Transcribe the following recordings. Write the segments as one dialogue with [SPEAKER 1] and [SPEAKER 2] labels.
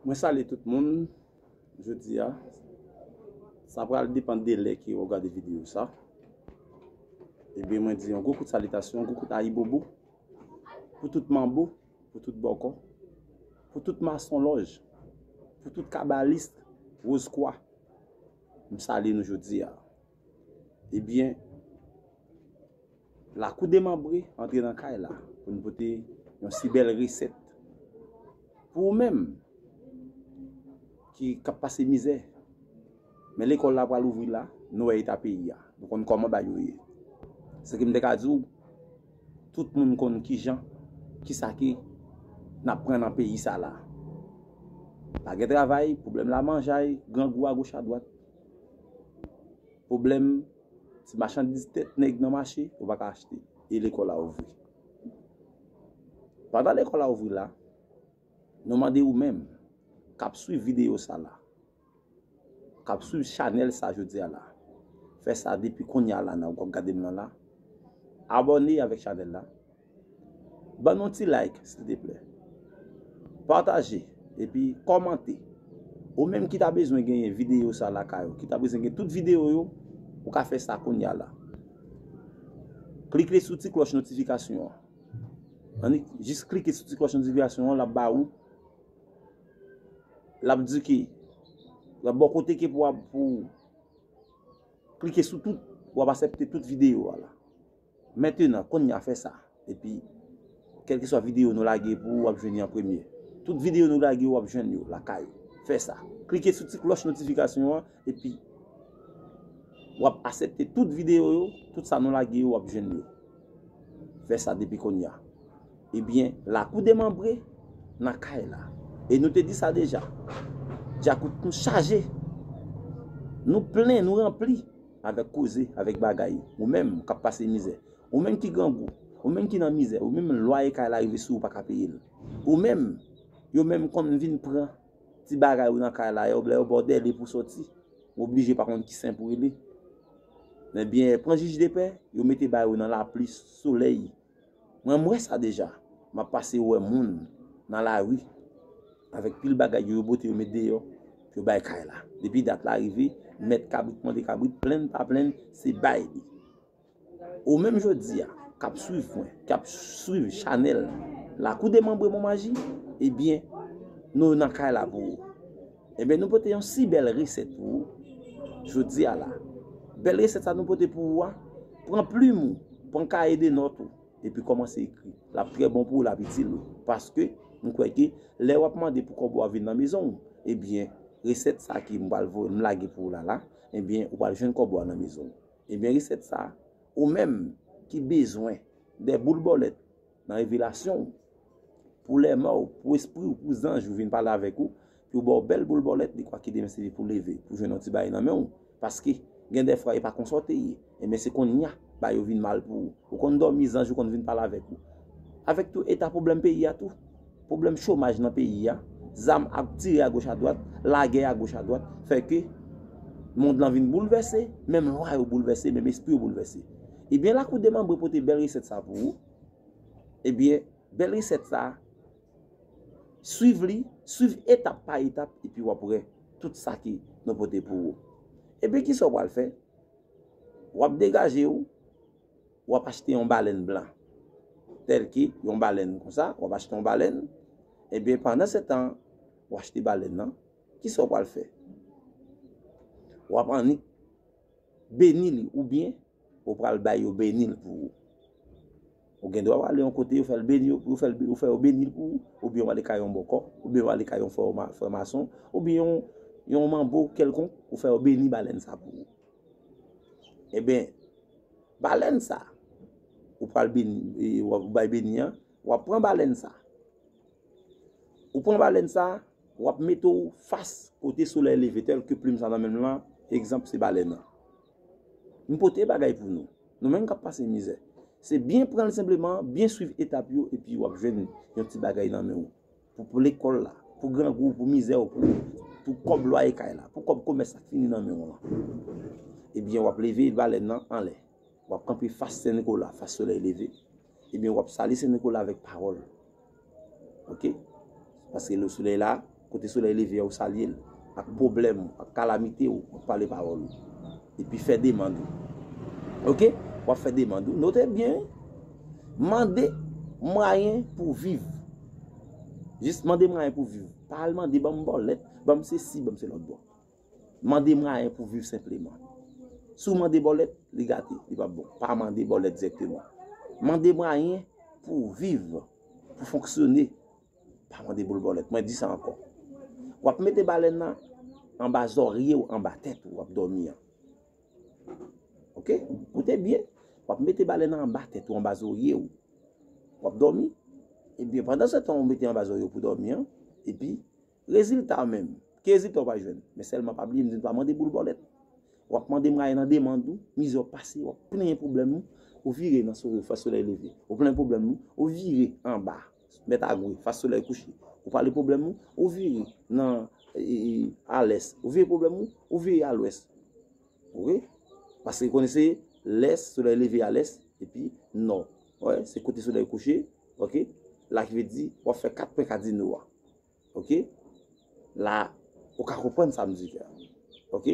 [SPEAKER 1] Mwen salye tout moun jodi a. Sa pral depan de lè ke wap gade video sa. Ebyen mwen di yon gwo kout salitasyon, gwo kout ayibobo pou tout manbo, pou tout bòkò, pou tout mason lòj, pou tout kabalist, roz kwa. M salye nou jodi a. Ebyen lakou demanbre antre nan kay la pou nou pote yon si bèl resèt pou ou menm ki kap pase mizè men lekòl la pral ouvri la nou wè eta peyi a nou konn kòman bagay yo ye se ke m te ka di w tout moun konn ki jan ki sa ki n ap pran nan peyi sa la pa gen travay pwoblèm lamanjay grangou agoch adwat Pwoblèm, ti machandiz tèt nèg nan mache, ou pa ka achte. E lekòl la ouvri. Pandan lekòl la ouvri la, nou mande ou menm k ap suiv videyo sa la, k ap suiv chanèl sa jodi a la, fè sa depi kounye a la nan ou ap gade m nan la, abòne avèk chanèl la. Ban nou ti like silteplè. Pataje epi kòmante. Ou menm ki ta bezwen genyen videyo sa lakay ou, ki ta bezwen gen tout videyo yo, ou ka fè sa kounya la. Klike sou ti klòch notifikasyon an. Annik, jis klike sou ti klòch notifikasyon an, l ap ba ou, l ap di ki, l ap ba ou kote ke pou w ap, pou w klike sou tout, pou w ap asèpte tout videyo a la. Mentenan, konnya fè sa, epi kèlkeswa videyo nou lage pou ou wap jwenn li an premye. Tout videyo nou lage yo wap jwenn yo lakay ou. Fè sa, klike sou ti klòch notifikasyon an epi wap asèpte tout videyo yo, tout sa nou lage yo wap jwenn yo. Fè sa depi konnya. Ebyen, lakou demanbre nan kay la. E nou te di sa deja, djakout nou chaje, nou plen, nou ranpli. Avèk koze, avèk bagay. Ou menm, k'ap pase mizè. Ou menm ki grangou. Ou menm ki nan mizè. Ou menm lwaye kay la rive sou ou pa ka peye l. Ou menm, yo menm konn vin pran ti bagay ou nan kay la yo, lè yo ba w dèle pou w sòti, ou oblije pa konn ki sen pou w rele. Men byen, pran jij depè, yo mete bay ou nan lapli, solèy. Mwen wè sa deja map pase wè moun nan la rue avèk pil bagay yo yo pote yo met deyò pou yo bay kay la depi dat la rive mèt kabrit mande kabrit plenn pa plenn se bay li ou menm jodi a kap swiv mwen kap swiv chanèl la kou demanbre monmaji ebyen nou nan kay la pou ou. Ebyen nou pote yon si bèl resèt pou ou jodi a la. Bèl resèt sa nou pote pou ou a, pran plim ou, pran kaye de nòt ou, epi kòmanse ekri. Lap trè bon pou ou, lap itil ou. Paske, m kwè ke, lè wap mande pou kòb ou a vin nan mezon ou, ebyen, resèt sa ke m pral voye, m lage pou ou la la, ebyen, ou pral jwenn kòb ou a nan mezon ou. Ebyen resèt sa, ou menm ki bezwen de boul bòlèt, Nan revelasyon ou. Pou lèmò ou, pou espri ou, pou zanj ou vin pale avèk ou, pou yo ba ou bèl boul bòlèt dekwa ki demen sèvi pou leve, pou jwenn yon ti bagay nan men ou. Paske, gen dè fwa e pa konsa ou te ye. Enben se konnya, bagay yo vin mal pou ou. Ou konn dòmi, zanj ou konn vin pale avèk ou. Avèk tou eta pwoblèm peyi a tou. Pwoblèm chomaj nan peyi a, zam ap tire a goch a dwat, lagè a goch a dwat, fè ke mond lan vin boulvèse, menm lwa yo boulvèse, menm espri yo boulvèse. Ebyen lakou demanbre pote bèl resèt sa pou ou Ebyen bèl resèt sa Swiv li Swiv etap pa etap epi wap wè tout sa ki nou pote pou ou Ebyen kisa ou pral fè Wap degaje ou Wap achte yon balèn blan Tèlke yon balèn konsa Wap achte yon balèn Ebyen pandan setan Ou achte balèn nan Kisa ou pral fè Wap annik Beni li oubyen ou pral bay yo beni l pou ou. Ou gen dwa ale yon kote yo fè l beni yo pou yo fè l yo fè yo beni l pou ou oubyen w ale kay yon bòkò oubyen w ale kay yon frè ma frè mason oubyen yon yon manbo kèlkonk ou fè yo beni balèn sa pou ou. Eben balèn sa ou pral beni e w ap bay beni an w ap pran balèn sa Ou pran balèn sa, wap mete w fas kote solèy leve tèl ke plim sa nan menm lan, egzanp se balèn an. M pote bagay pou nou, nou menm kap pase mizè. Se byen pran l senpleman, byen swiv etap yo epi wap jwenn yon ti bagay nan men w. Pou lekòl la, pou grangou, pou mizè w, pou kòb lwaye kay la, pou kòb komès la k fini nan men w lan. Ebyen wap leve balèn nan anlè, wap kanpe fas Sen Nikola, fas solèy leve. Ebyen wap sali sen nikola avèk pawòl ok paske le solèy la kote solèy leve ou salye l ak pwoblèm ou ak kalamite ou wap pale pawòl ou epi fè demand ou ok wap fè demand ou note byen wi mande mwayen pou viv jis mande mwayen pou viv pa al mande banm bòlèt banm sesi banm selòt bon. Mande mwayen pou viv senpleman. Si w mande bòlèt, li gate, li pap bon. Pa mande bòlèt dirèkteman. Mande mwayen pou viv, pou fonksyone. Pa mande boul bòlèt. Mwen di sa ankò. W ap mete balèn nan anba zòrye w, anba tèt ou w ap dòmi an. Ok? Koute byen. W ap mete balèn nan anba tèt ou, anba zòrye w. W ap dòmi. Ebyen, pandan se tan w mete anba zòrye w pou dòmi an, epi. Rezilta a menm? Ki rezilta ou va jwenn? Men sèlman pa bliye m di n pa mande boul bòlèt. W ap mande mwaye nan demand ou, mizè w pase, w ap plenyen pwoblèm ou, ou vire nan sore fas solèy leve. Ou plenyen pwoblèm ou, ou vire anba mèt agwe fas solèy kouche. Ou pale pwoblèm ou, ou vire nan alès. Ou vire pwoblèm ou, ou vire alwès. Ok? Paske konnen se lès, solèy leve alès, epi nò. Wè? Se kote solèy kouche. Ok? Laki vle di w ap fè kat pwen kadino a. Ok la ou ka konprann sa m di la ok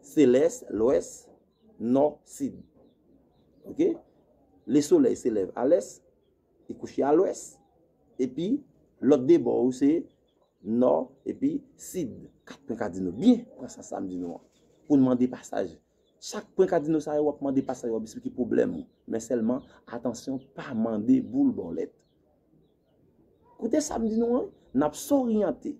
[SPEAKER 1] se lès lwès nò sid ok le solèy se lève a lès li kouche a lwès epi lòt 2 bò yo se nò epi sid 4 pwen kadino byen pran sans sa m di nou an pou n mande pasaj chak pwen kadino sa yo w ap mande pasaj w ap esplike pwoblèm ou men sèlman atansyon pa mande boul bòlèt. Koute sa m di nou an, n ap soryante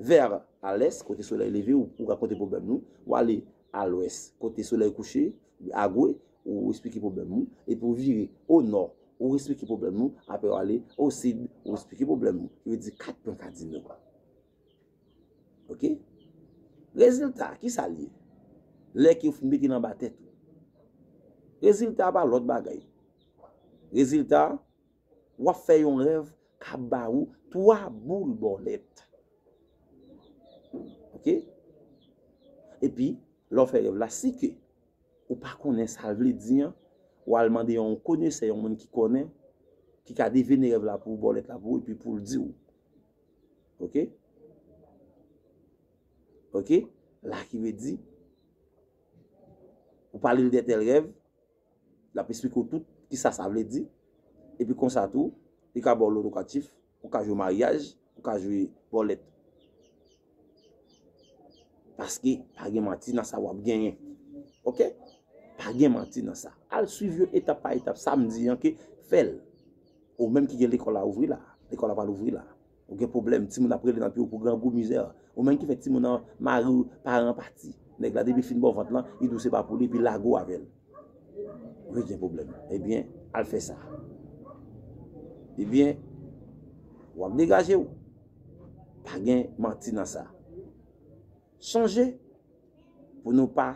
[SPEAKER 1] vè alès kote solèy leve ou rakonte pwoblèm nou, w ale alwès kote solèy kouche, agwe, ou esplike pwoblèm ou, epi ou vire onò, ou esplike pwoblèm nou, apre w ale osid, ou esplike pwoblèm ou. Ki vle di kat pwen kadino. Ok? Rezilta a, ki sa l ye? Lè ke ou fin mete l anba tèt ou. Rezilta a pa lòt bagay. Rezilta a. Wap fè yon rèv kap ba ou 3 boul bòlèt. Ok. Epi, lè w fè rèv la, si ke ou pa konnen sa l vle di an, ou al mande yon konesè, yon moun ki konnen, ki ka devine rèv la pou ou, bòlèt la pou ou, epi pou l di ou. Ok. Ok. La ki ve di, ou pale l de tèl rèv. L ap esplike w tout ki sa sa vle di. E pi konsa tou, li ka ba w lokatif pou w ka jwe maryaj, pou w ka jwe bòlèt. Paske pa gen manti nan sa w ap genyen. Ok? Pa gen manti nan sa. Al swiv yo etap pa etap. Sa m di an ke fè l. Ou menm ki gen lekòl la ouvri la. Lekòl la pa louvri la. Ou gen pwoblèm, timoun ap rele nan pye w pou grangou, mizè. Ou menm ki fè timoun nan mari w, paran pati. Nèg la depi fin ba w vant lan, li di w se pa pou li epi lage w avè l. Wi gen pwoblèm. Ebyen, al fè sa. Ebyen, w ap degaje w. Pa gen manti nan sa. Sonje pou nou pa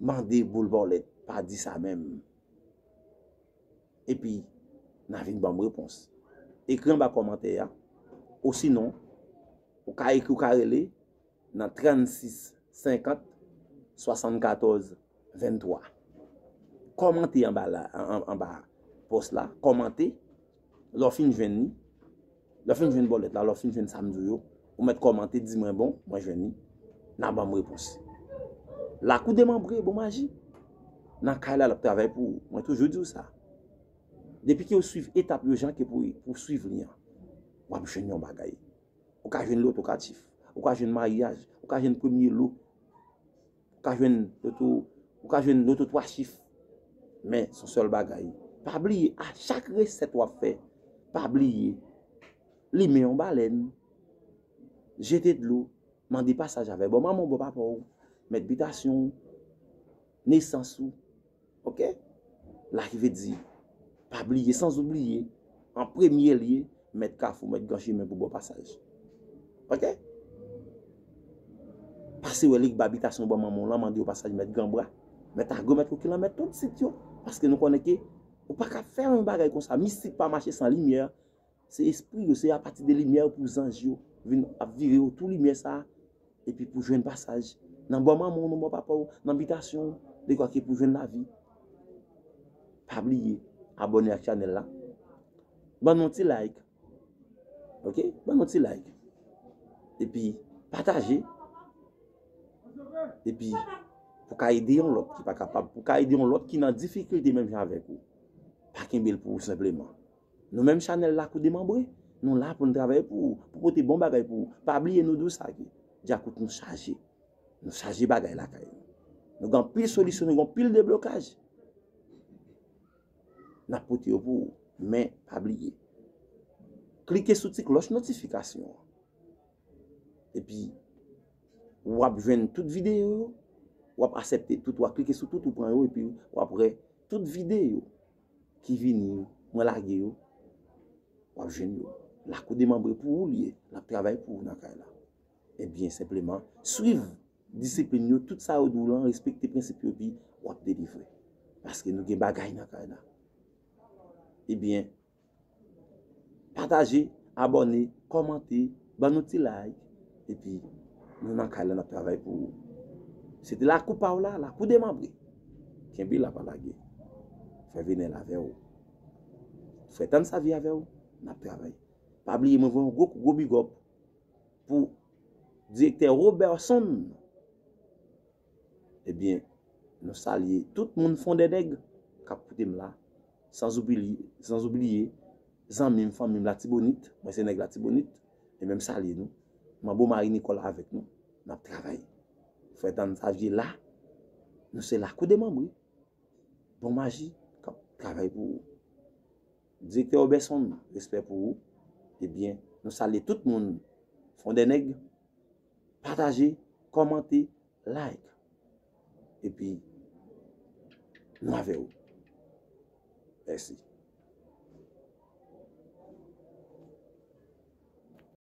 [SPEAKER 1] mande boul bòlèt. Pa di sa menm. epi nan vin banm repons. Ekri anba kòmantè ya, osinon ou ka ekri ou ka rele nan 36 50 74 23. Kòmante anba la anba pòs la, kòmante Lè w fin jwenn li, lè w fin jwenn bòlèt la, lè w fin jwenn sa m di w yo, ou mèt kòmante di mwen bon, mwen jwenn li, nan ban m repons. Lakou demanbre bon maji. Nan kay la l ap travay pou ou. Mwen toujou di w sa. Depi ke w swiv etap yo jan ke pou w swiv li an, w ap jwenn yon bagay. Ou ka jwenn lotokatif, ou ka jwenn maryaj, ou ka jwenn premye lo. Ou ka jwenn loto, ou ka jwenn loto 3 chif. Men son sèl bagay, pa bliye a chak resèt wap fè, pa bliye limen yon balèn, jete dlo, mande pasaj avè bon manman ou, bon papa ou, mèt bitasyon ou, nesans ou. Ok la ki vle di pa bliye sans ou bliye an premye lye mèt kafou mèt gran chimen pou bon pasaj ok pase wè lig ba bitasyon ban manman w lan mande yo pasaj mèt gran bra mèt agro mèt kokilan mèt tout sit yo paske nou konnen ke ou pa ka fè yon bagay konsa mistik pa mache san limyè Se espri yo, se a pati de limyè yo pou zanj yo vin ap vire otou limyè sa a epi pou jwenn pasaj nan bò manman w, nan bò papa w, nan bitasyon w, dekwa ke pou jwenn lavi. Pa bliye abòne ak chanèl la, ban nou ti like, ok, ban nou ti like, epi pataje, epi pou ka ede yon lòt ki pa kapab, pou ka ede yon lòt ki nan difikilte menm jan avèk ou, pa kenbe l pou ou senpleman. Nou menm chanèl lakou demanbre nou la poun travay pou ou pou pote bon bagay pou ou pa bliye nou dous age djakout nou chaje nou chaje bagay lakay nou nou gen anpil solisyon nou gen anpil deblokaj nap pote yo pou ou men pa bliye klike sou ti klòch notifikasyon an epi wap jwenn tout videyo yo wap asepte tout wap klike sou tout ou pran yo epi wap wè tout videyo ki vini yo mwen lage yo wap jwenn yo la kou demanbre pou ou li ye lap travay pou ou nan kay la e byen senpleman swiv disiplin yo tout sa yo di w lan respekte prensip yo epi wap delivre paske nou gen bagay nan kay la e byen Pataje, abòne, kòmante, ban nou ti like epi nou nan kay la nap travay pou ou. Se te lakou pa w la, lakou demanbre. Kenbe la pa lage. Fè venel avè w. Fè tann sa vye avè w, nap travay. Pa bliye mwen voye yon gwo kou gwo bigòp pou direktè Roberson. Ebyen nou salye tout moun fondènèg kap koute m la. Sans oublier zanmim fanmim latibonit mwen se nèg latibonit e menm salye nou manbo mari Nicole avèk nou nap travay frè tann savye la nou se lakou demanbre bon maji kap travay pou ou direktè obèson respè pou ou e byen nou salye tout moun fondènèg pataje kòmante Like epi nou avè ou mèsi.